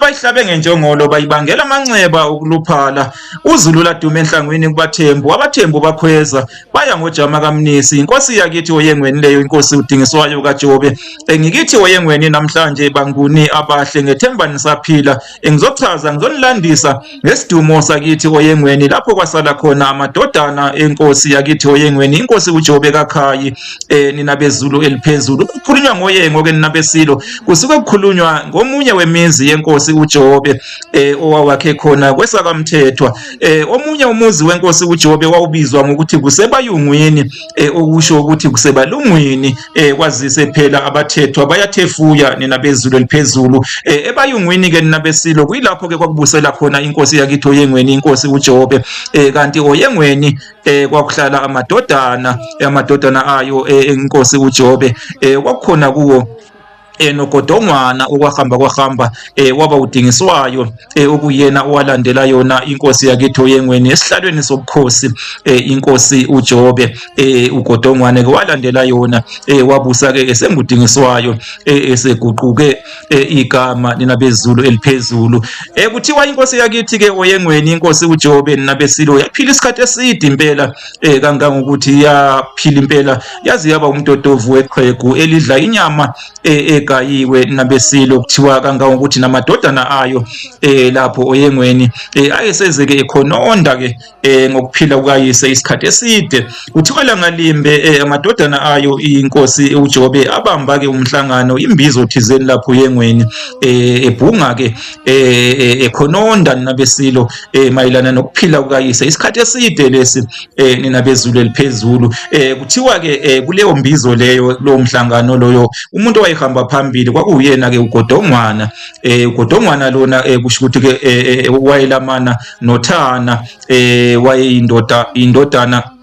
bayihlabe ngenjongolo bayibangela amanxeba okuluphala uzulu ladume enhlangwini kubathembu abathembu bakhweza baya ngojama kamnisi inkosi yakithi oyengweni leyo inkosi udingiswayo kajobe engikithi oyengweni namhlanje banguni abahle ngethemba nisaphila engizochaza ngizonilandisa Ngesidumo sakithi oyengweni lapho kwasala khona amadodana enkosi yakithi oyengweni inkosi uJobe kakhayi eh, nina bezulu eliphezulu kukhulunywa ngoyengo ke nina besilo kusuke kukhulunywa ngomunye wemizi yenkosi uJobe eh, owawakhe khona kwesakamthethwa eh, omunye umuzi wenkosi uJobe wawubizwa ngokuthi kusebayungwini eh, okusho ukuthi kusebalungwini eh, kwazise phela abathethwa bayathefuya nina bezulu eliphezulu eh, ebayungwini ke nina besilo kuyilapho ke kwakubusela khona inkosi yakitho yengweni inkosi uJobe eh, kanti oyengweni eh, kwakuhlala amadodana eh, amadodana ayo eh, inkosi uJobe eh, kwakukhona kuwo eh nogodongwana okwahamba kwahamba eh waba udingiswayo eh okuyena owalandela yona inkosi yakethu oyengweni esihlalweni sobukhosi eh inkosi uJobe eh ugodongwane ke walandela yona eh wabusa ke esengudingiswayo eh eseguquke eh, igama nina bezulu eliphezulu eh kuthiwa inkosi yakithi ke oyengweni inkosi uJobe nina besilo yaphila isikhathi eside impela eh kangangokuthi iyaphila impela yazi yaba umtotovu weqhegu elidla inyama eh, egayiwe nabesilo kuthiwa kangangokuthi namadodana ayo eh lapho oyengweni eh ayesezeke ekhononda ke eh ngokuphila kukayise isikhathi eside kuthiwa langalimbe eh amadodana ayo inkosi uJobe abamba ke umhlangano imbizo thizeni lapho oyengweni eh ebhunga ke eh ekhononda eh, eh, nabesilo eh, mayelana nokuphila kukayise isikhathi eside lesi nina bezulu eliphezulu kuthiwa ke kuleyo mbizo leyo lo mhlangano loyo umuntu owayehamba phambili kwakuyena ke ugodongwana ugodongwana lona kusho ukuthi ke wayelamana nothana wayeyindoda indodana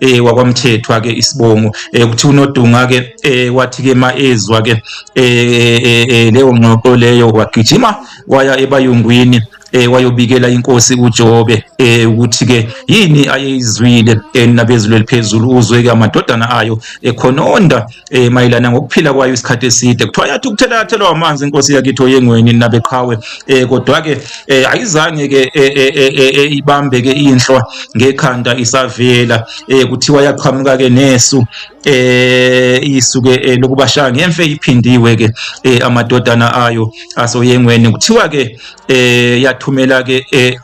eh wakwamthethwa ke isibongo eh kuthi unodunga ke eh wathi ke maezwa ke eh, eh, eh leyo ngxoxo leyo wagijima waya ebayungwini eh wayobikela inkosi uJobe eh ukuthi ke yini ayeyizwile eh, nabezulu eliphezulu uzwe ke amadodana ayo ekhononda eh mayelana ngokuphila kwayo isikhathi eside kuthiwa yathi ukuthelakathelwa amanzi inkosi yakitho yengweni nabeqhawe eh kodwa ke eh, ayizange ke eh, eh, ibambe ke inhlwa ngekhanda isavela eh kuthiwa yaqhamuka ke nesu eh isuke eh, lokubashaya ngemfe iphindiwe ke eh, amadodana ayo asoyengweni kuthiwa ke eh yathumela ke eh,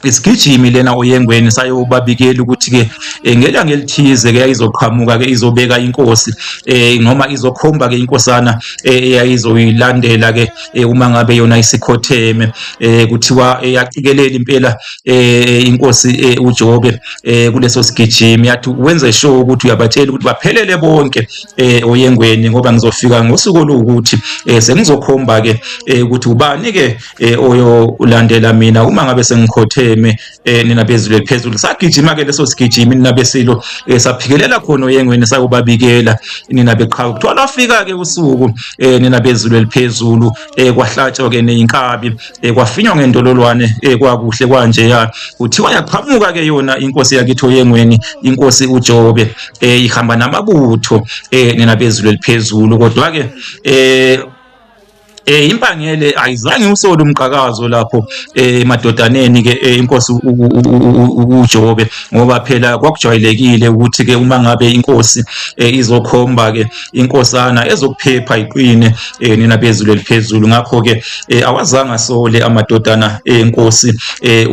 isigijimi lena oyengweni sayobabikela ukuthi-ke eh, ngelanga elithize-ke yayizoqhamuka-ke izobeka inkosi um noma izokhomba-ke inkosana eh, eyayizoyilandela-ke uma ngabe yona isikhotheme um kuthiwa yacikelela impela um inkosi ujobe um kuleso sigijimi yathi wenze sure ukuthi uyabatshela ukuthi baphelele bonke um oyengweni ngoba ngizofika ngosuku oluwukuthi um sengizokhomba-ke um ukuthi ubani-ke eh oyo ulandela mina uma ngabe sengikhotheme eh nina bezulu phezulu sagijima ke leso sigijimi nina besilo eh, saphikelela khona oyengweni sakubabikela nina beqhawe kuthiwa lafika ke usuku eh nina bezulu eliphezulu eh kwahlatshwa ke neinkabi eh kwafinywa ngendololwane eh kwakuhle kwanje ya kuthiwa yaqhamuka ke yona inkosi yakithi oyengweni inkosi uJobe eh ihamba namabutho eh nina bezulu eliphezulu kodwa ke eh Eh impangele ayizange usole umqhakazo lapho eh madodaneni ke eh, inkosi uJobe ngoba phela kwakujwayelekile ukuthi ke uma ngabe inkosi eh, izokhomba ke inkosana ezokuphepha iqine eh, nina bezulu eliphezulu ngakho ke awazange asole amadodana enkosi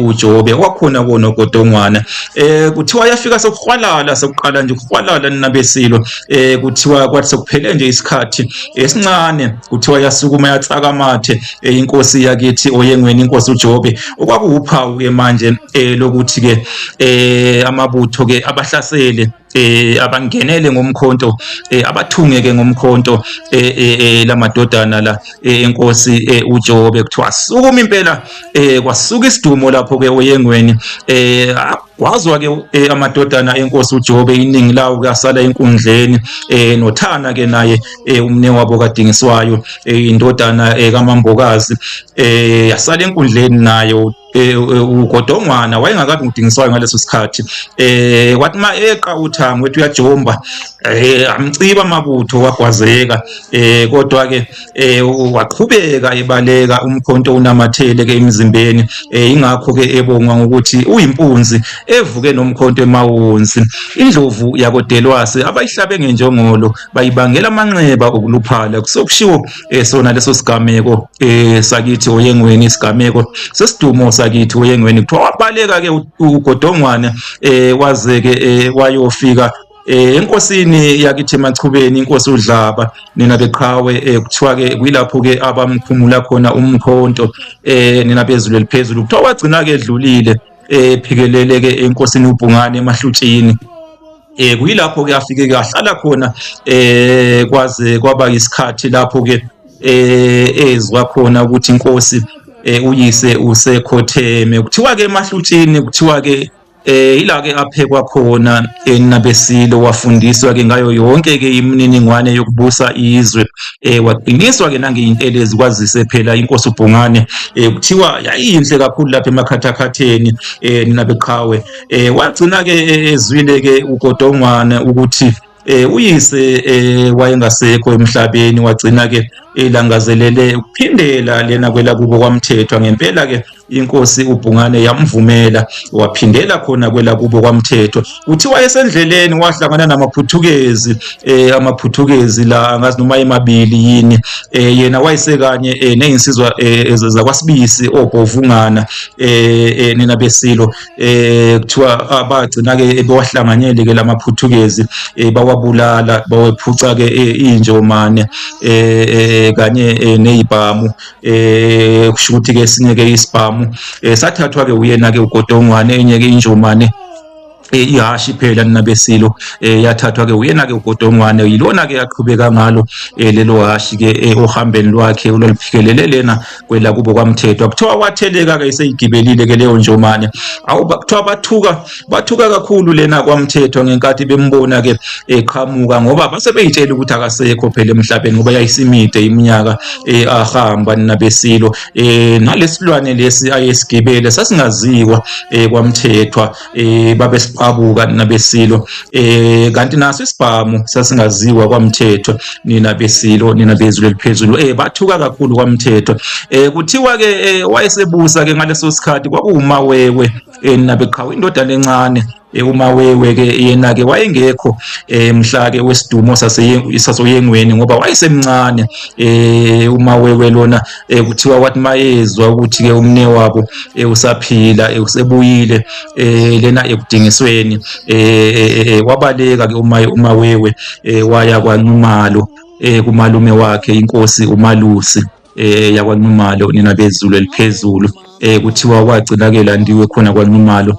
uJobe kwakhona kona kodongwana eh kuthiwa yafika sokuhwalala sokuqala nje ukuhwalala nina besilo eh kuthiwa kwathi sokuphele nje isikhathi esincane kuthiwa yasukuma yatsaka amathe eyinkosi yakithi oyengweni inkosi uJobe okwakuwuphawu ke manje eh, lokuthi ke eh, amabutho ke abahlasele eh abangenele ngomkhonto eh abathungeke ngomkhonto eh, eh, eh lamadodana la eh, enkosi eh, uJobe kuthiwa sukuma impela eh kwasuka isidumo lapho ke oyengweni eh Wazwa-ke eh, amadodana enkosi uJobe iningi lawo kasala enkundleni eh, noThana-ke naye eh, umne wabo kadingiswayo eh, indodana eh, kamambokazi eh, yasala enkundleni naye Eh, eh, ugodongwana wayengakabi ngidingiswayo ngaleso sikhathi eh wathi ma eqa uthango wethi uyajomba eh amciba amabutho wagwazeka eh kodwa ke eh waqhubeka ebaleka umkhonto unamathele ke emzimbeni eh ingakho ke ebongwa ngokuthi uyimpunzi evuke nomkhonto emawonsi indlovu yakodelwase abayihlabe ngenjongolo bayibangela amanxeba okuluphala kusokushiwo eh sona leso sigameko eh sakithi oyengweni isigameko sesidumo sakithi oyengweni kuthiwa wabaleka ke ugodongwane eh wazeke eh wayofika Eh enkosini yakithi machubeni inkosi uDlaba nina beqhawe eh, kuthiwa ke kuyilapho ke abamkhumula khona umkhonto eh nina bezulu eliphezulu kuthiwa wagcina ke edlulile eh phikelele ke enkosini uBhungane emahlutshini eh kuyilapho ke afike kahlala khona eh kwaze kwaba isikhathi lapho ke eh ezwa khona ukuthi inkosi eh uyise usekhotheme kuthiwa ke emahlutshini kuthiwa ke Eh ila ke aphekwa khona enabesilo wafundiswa ke ngayo yonke ke imininingwane yokubusa izwe eh waqiniswa ke nangeyintelezi kwazise phela inkosi uBhungane eh kuthiwa yayinhle kakhulu lapha emakhathakhatheni eh ninabeqhawe eh wagcina ke ezwile ke uGodongwane ukuthi eh uyise eh wayengasekho emhlabeni wagcina ke elangazelele ukuphindela lena kwelakubo kwamthethwa ngempela ke inkosi ubhungane yamvumela waphindela khona kwelakubo kwamthethwa uthi wayesendleleni wahlangana namaphuthukezi eh amaphuthukezi la angazi noma emabili yini eh yena wayesekanye eh nezinsizwa eh, zakwasibisi obhovungana eh, eh nina besilo eh kuthiwa abagcina ke bewahlanganyele ke lamaPhuthukezi eh, bawabulala bawephuca ke eh, injomane eh, eh kanye eh, nezibhamu eh kusho ukuthi ke sinye ke isibhamu eh, sathathwa ke uyena ke uGodongwane enye ke injomane Eh, ihashi phela ninabesilo eh, yathathwa ke uyena ke ugodongwane yilona ke yaqhubeka ngalo eh, lelo hashi ke ohambeni lwakhe olwaliphikelele lena kwelakubo kwamthethwa kuthiwa watheleka ke iseyigibelile ke leyo njomane awu kuthiwa bathuka bathuka kakhulu lena kwamthethwa ngenkathi bembona ke eqhamuka ngoba base beyitshela ukuthi akasekho phela emhlabeni ngoba yayisimide iminyaka eh, ahamba nabesilo eh, nalesilwane lesi ayesigibele sasingaziwa eh, kwamthethwa eh babesiqabuka nina besilo eh kanti naso isibhamu sasingaziwa kwamthetho nina besilo nina bezulu eliphezulu eh bathuka kakhulu kwamthetho eh kuthiwa ke eh, wayesebusa ke ngaleso sikhathi kwakuwumawewe eh nina beqhawe indodana encane Eh, uma wewe ke yena ke wayengekho eh, mhla ke wesidumo sasoyengweni ngoba wayesemncane eh, uma wewe lona eh kuthiwa kwathi mayezwa ukuthi ke umne wabo eh usaphila eh usebuyile eh lena ekudingisweni eh wabaleka ke umaye umawewe eh waya kwanumalo eh kumalume wakhe inkosi umalusi eh yakwanumalo nina bezulu eliphezulu eh kuthiwa kwagcina ke landiwe khona kwanumalo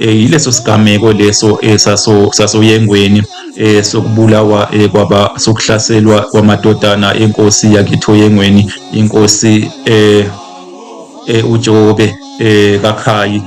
Eh, yileso sigameko leso eh, sasoyengweni eh, sokubulawa kwaba sokuhlaselwa kwamadodana enkosi yakitho yengweni inkosi uJobe kakhayi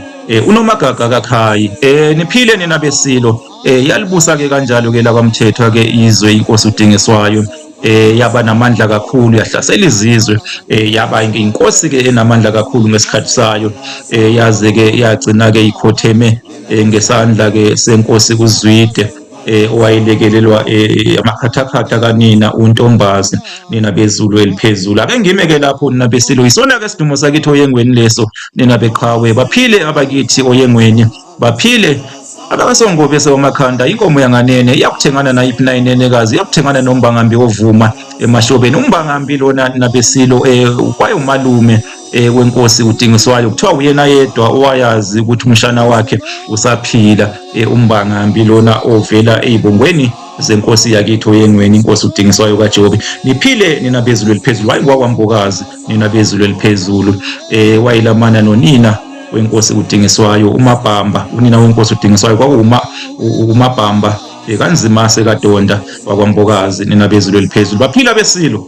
unomagaga kakhayi niphile nina besilo yalibusa ke kanjalo ke lakwamthethwa ke izwe inkosi udingiswayo eh yaba namandla kakhulu yahlasela izizwe eh yaba inkosi ke enamandla kakhulu ngesikhathi sayo eh yaze ke yagcina ke ikhotheme eh, ngesandla ke senkosi uZwide eh owayelekelelwa eh, amakhathakhatha kanina untombazi nina bezulu eliphezulu ake ngime ke lapho nina besilo isona ke sidumo sakitho oyengweni leso nina beqhawe baphile abakithi oyengweni baphile abakasongobe sewamakhanda inkomo yanganene iyakuthengana nayiphi na inenekazi iyakuthengana nombangambi ovuma emahlobeni umbangambi lona nabesilo um eh, kwayewumalume um eh, wenkosi udingiswayo kuthiwa uyena yedwa owayazi ukuthi umshana wakhe usaphila um umbangambi lona ovela ey'bongweni zenkosi yakithi oyengweni inkosi udingiswayo kajobe niphile nina bezulu eliphezulu hhayi ngwakwambokazi nina bezulu eliphezulu eh wayilamana nonina wenkosi udingiswayo umabhamba unina wenkosi udingiswayo kwakuma umabhamba bekanzima sekadonda wakwambokazi nina bezulu eliphezulu baphila besilo